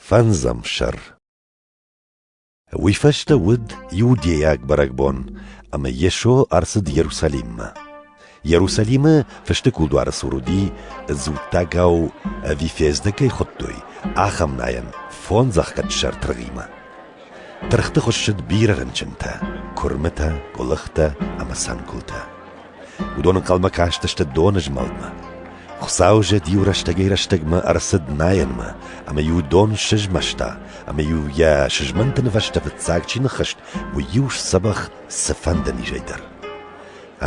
Фӕндзӕм сӕр Уый фӕстӕ уыд иудейаг бӕрӕгбон, ӕмӕ Йесо ӕрцыд Иерусалиммӕ. Иерусалимы фысты кулдуары цур уыди, дзуттагау ӕви фӕздӕг кӕй хуыдтой, ахӕм найӕн фондз ӕхгӕдсӕр тыргъимӕ. Тыргъты хуыссыд бирӕ рынчынтӕ: куырмытӕ, гуылыхтӕ ӕмӕ цӕнгуылтӕ. Уыдон ӕнхъӕлмӕ кастысты доны змӕлдмӕ. Хуыцау зӕд-иу рӕстӕгӕй-рӕстӕгмӕ ӕрцыд найӕнмӕ, ӕмӕ-иу дон сызмӕста, ӕмӕ-иу йӕ сызмӕнты нывӕстӕ фыццаг чи ныххызт, уый-иу сдзӕбӕх цыфӕнды низӕй дӕр.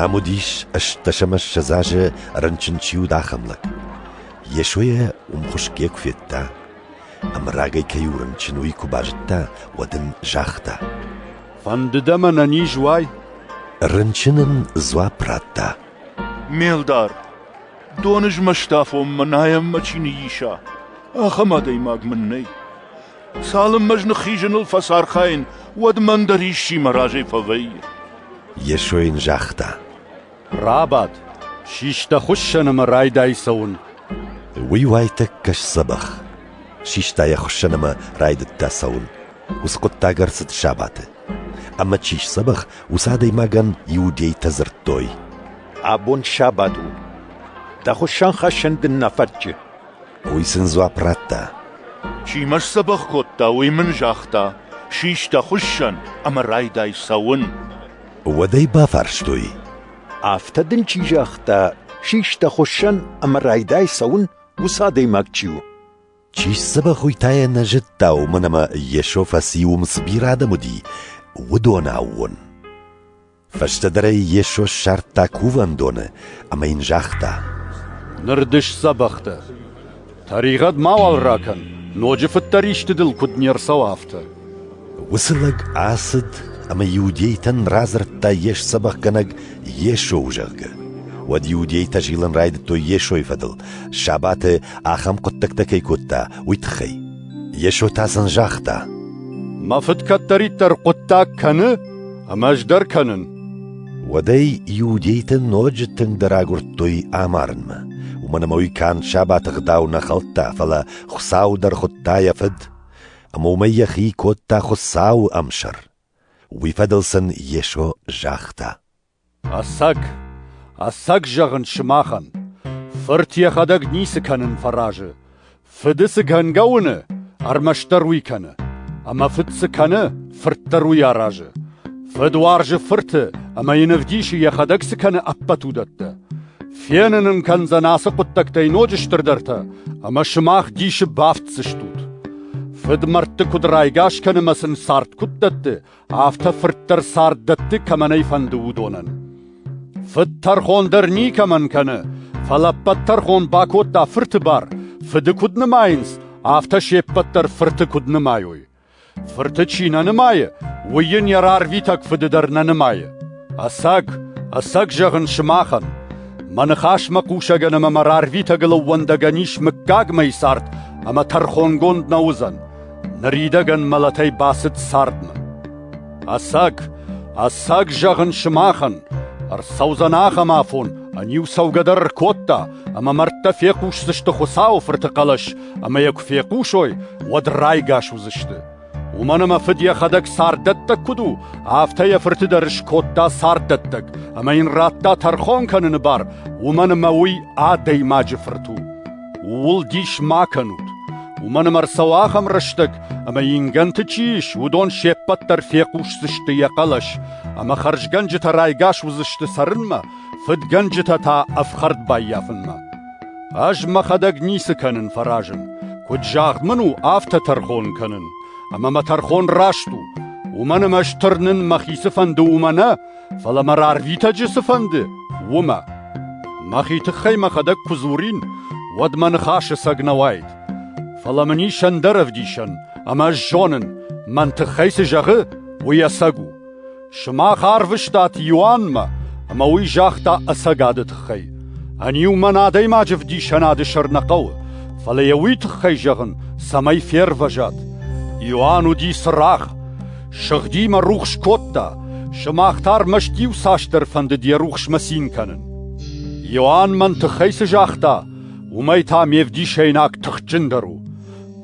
Ам уыдис ӕстдӕсӕмӕссӕдз азы рынчын чи уыд, ахӕм лӕг. Йесойӕ уым хуысгӕ куы федта, ӕмӕ рагӕй кӕй у рынчын, уый куы базыдта, уӕд ын загъта: Фӕндыд ӕмӕ нӕ низ уай? Рынчын ын дзуапп радта. Ме лдар, доны змӕсты афонмӕ найӕммӕ чи ныйиса, ахӕм адӕймаг мын нӕй. Цалынмӕ ӕз ныххизыныл фӕцархайын, уӕдмӕ ӕндӕр исчи мӕ разӕй фӕвӕййы. Йесо йын загъта. Рабад, систа хуыссӕн ӕмӕ райдай цӕуын. Уый уайтӕккӕ сдзӕбӕх. Систа йӕ хуыссӕн ӕмӕ райдыдта цӕуын. Уыцы хъуыддаг ӕрцыд сабаты. Ӕмӕ чи сдзӕбӕх, уыцы адӕймагӕн иудейтӕ дзырдтой: «Абон сабат у. Дӕ хуыссӕнхӕссӕн дын нӕ фӕтчы». Уый сын дзуапп радта: «Чи мӕ сдзӕбӕх кодта, уый мын загъта: Систа хуыссӕн ӕмӕ райдай цӕуын». Уӕд ӕй бафарстой. — Афтӕ дын чи загъта, систа хуыссӕн ӕмӕ райдай цӕуын, уыцы адӕймаг чи у? — Чи сдзӕбӕх уый та йӕ нӕ зыдта, уымӕн ӕмӕ Йесо фӕци уым цы бирӕ адӕм уыди, уыдон аууон. Фӕстӕдӕр ӕй Йесо ссардта кувӕндоны ӕмӕ йын загъта. — Ныр ды сдзӕбӕх дӕ. Тӕригъӕд мауал ракӕн, ноджы фыддӕр исты дыл куыд не рцӕуа, афтӕ. Уыцы лӕг ацыд ӕмӕ иудейтӕн радзырдта йе сдзӕбӕхгӕнӕг Йесо, зӕгъгӕ. Уӕд иудейтӕ зилын райдыдтой Йесойы фӕдыл, сабаты ахӕм хъуыддӕгтӕ кӕй кодта, уый тыххӕй. Йесо та сын загъта: «Мӕ Фыд кӕддӕриддӕр хъуыддаг кӕны, ӕмӕ ӕз дӕр кӕнын». Уӕдӕй иудейтӕ ноджы тынгдӕр агуырдтой амарынмӕ. Уымӕн ӕмӕ уый канд сабаты гъдау нӕ хӕлдта, фӕлӕ Хуыцау дӕр хуыдта йӕ фыд, ӕмӕ уымӕй йӕхи кодта Хуыцауы ӕмсӕр. Уый фӕдыл сын Йесо загъта. «Ӕцӕг, ӕцӕг зӕгъын сымахӕн, Фырт йӕхӕдӕг ницы кӕнын фӕразы. Фыды цы гӕнгӕ уыны, ӕрмӕстдӕр уый кӕны. Ӕмӕ фыд цы кӕны, фырт дӕр уый аразы. Фыд уарзы фырты ӕмӕ йын ӕвдисы йӕхӕдӕг цы кӕны ӕппӕт уыдӕттӕ. Фенын ын кӕндзӕн ацы хъуыддӕгтӕй ноджы стырдӕртӕ, ӕмӕ сымах дисы бафтдзыстут. Фыдмӕрдты куыд райгас кӕны ӕмӕ сын цард куыд дӕтты, Афтӕ фырт дӕр цард дӕтты кӕмӕн ӕй фӕнды, уыдонӕн. Фыд тӕрхон дӕр никӕмӕн кӕны, фӕлӕ ӕппӕт тӕрхон бакодта фырты бар, фыды куыд нымайынц, афтӕ се ппӕт дӕр фырты куыд нымайой. Фырты чи нӕ нымайы, уый йын йӕ рарвитӕг фыды дӕр нӕ нымайы. Ӕцӕг, ӕцӕг зӕгъын сымахӕн, мӕ ныхасмӕ хъусӕгӕн ӕмӕ мӕ рарвитӕгыл ӕууӕндӕгӕн ис мыггагмӕйы цард ӕмӕ тӕрхонгонд нӕ уыдзӕн, Ныридӕгӕн мӕлӕтӕй бацыд цардмӕ. Ӕцӕг, ӕцӕг зӕгъын сымахӕн, ӕрцӕудзӕн ахӕм афон, ӕниу цӕугӕ дӕр ӕркодта, ӕмӕ мӕрдтӕ фехъусдзысты Хуыцауы Фырты хъӕлӕс, ӕмӕ йӕ куы фехъусой, уӕд райгас уыдзысты. Уымӕн ӕмӕ фыд йӕхӕдӕг царддӕттӕг куыд у, афтӕ йӕ фырты дӕр скодта царддӕттӕг, ӕмӕ йын радта тӕрхон кӕныны бар, уымӕн ӕмӕ уый адӕймаджы фырт у. Ууыл дис ма кӕнут, уымӕн ӕмӕ ӕрцӕуы ахӕм рӕстӕг, ӕмӕ ингӕнты чи ис, уыдон се ппӕт дӕр фехъусдзысты йӕ хъӕлӕс, ӕмӕ хӕрзгӕнджытӕ райгас уыдзысты цӕрынмӕ, фыдгӕнджытӕ та ӕфхӕрд баййафынмӕ. Ӕз мӕхӕдӕг ницы кӕнын фӕразын, куыд загъд мын у, афтӕ тӕрхон кӕнын, ӕмӕ мӕ тӕрхон раст у, уымӕн ӕмӕ ӕз тырнын мӕхи цыфӕнды уымӕ нӕ, Фӕлӕ мӕ рарвитӕджы цы фӕнды, уымӕ. Мӕхи тыххӕй мӕхӕдӕг куы дзурин, уӕд мӕ ныхасы цӕг нӕ уаид. Фӕлӕ мын ис ӕндӕр ӕвдисӕн, ӕмӕ ӕз зонын, мӕн тыххӕй цы зӕгъы, уый ӕцӕг у. Сымах арвыстат Иоаннмӕ, ӕмӕ уый загъта ӕцӕгады тыххӕй. Ӕниу мӕн адӕймаджы вдисӕнады сӕр нӕ хъӕуы, фӕлӕ йӕ уый тыххӕй зӕгъын, цӕмӕй фервӕзат. Иоанн уыди цырагъ. Сыгъди мӕ рухс кодта, сымах та ӕрмӕст иуцасдӕр фӕндыд йӕ рухсмӕ цин кӕнын. Иоанн мӕн тыххӕй цы загъта, уымӕй та ме вдисӕйнаг тыхджындӕр у.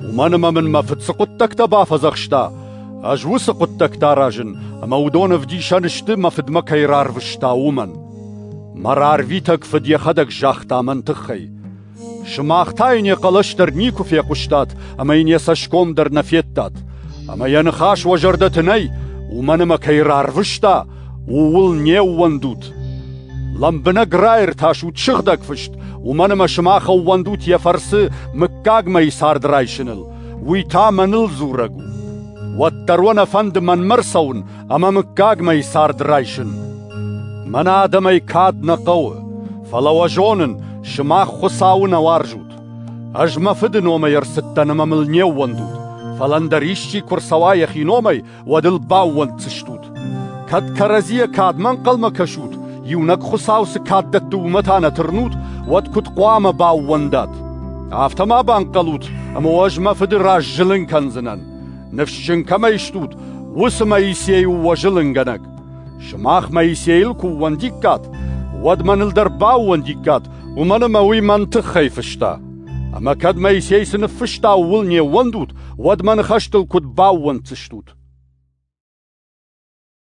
Уымӕн ӕмӕ мын мӕ фыд цы хъуыддӕгтӕ бафӕдзӕхста, ӕз уыцы хъуыддӕгтӕ аразын, ӕмӕ уыдон ӕвдисӕн сты, мӕ фыдмӕ кӕй рарвыста, уымӕн. Мӕ рарвитӕг фыд йӕхӕдӕг загъта мӕн тыххӕй. Сымах та йын йӕ хъӕлӕс дӕр никуы фехъуыстат ӕмӕ йын йӕ цӕсгом дӕр нӕ федтат. Ӕмӕ йӕ ныхас уӕ зӕрдӕты нӕй, уымӕн ӕмӕ кӕй рарвыста, ууыл не ууӕндут. Лӕмбынӕг раиртасут сыгъдӕг фыст, уымӕн ӕмӕ сымах ӕууӕндут йӕ фӕрцы мыггагмӕйы цард райсыныл, уый та мӕныл дзурӕг у. Уӕддӕр уӕ нӕ фӕнды мӕнмӕ рцӕуын, ӕмӕ мыггагмӕ цард райсын. Мӕнӕ адӕмӕй кад нӕ хъӕуы, фӕлӕ уӕ зонын, сымах Хуыцауы нӕ уарзут. Ӕз мӕ фыды номӕй ӕрцыдтӕн ӕмӕ мыл не ӕууӕндут, фӕлӕ ӕндӕр исчи куы ӕрцӕуа йӕхи номӕй, уӕд ыл баууӕнддзыстут. Кӕд кӕрӕдзийӕ кадмӕ ӕнхъӕлмӕ кӕсут, иунӕг Хуыцау цы кад дӕтты, уымӕ та нӕ тырнут, уӕд куыд хъуамӕ баууӕндат? Афтӕ ма банхъӕлут, ӕмӕ ӕз мӕ фыды раз зылын кӕндзынӕн. Ныфсджын кӕмӕй стут, уыцы Моисей у уӕ зылынгӕнӕг. Сымах Моисейыл куы ууӕндиккат, уӕд мӕныл дӕр баууӕндиккат, уымӕн ӕмӕ уый мӕн тыххӕй фыста. Ӕмӕ кӕд Моисей цы ныффыста, ууыл не ууӕндут, уӕд мӕ ныхӕстыл куыд баууӕнддзыстут?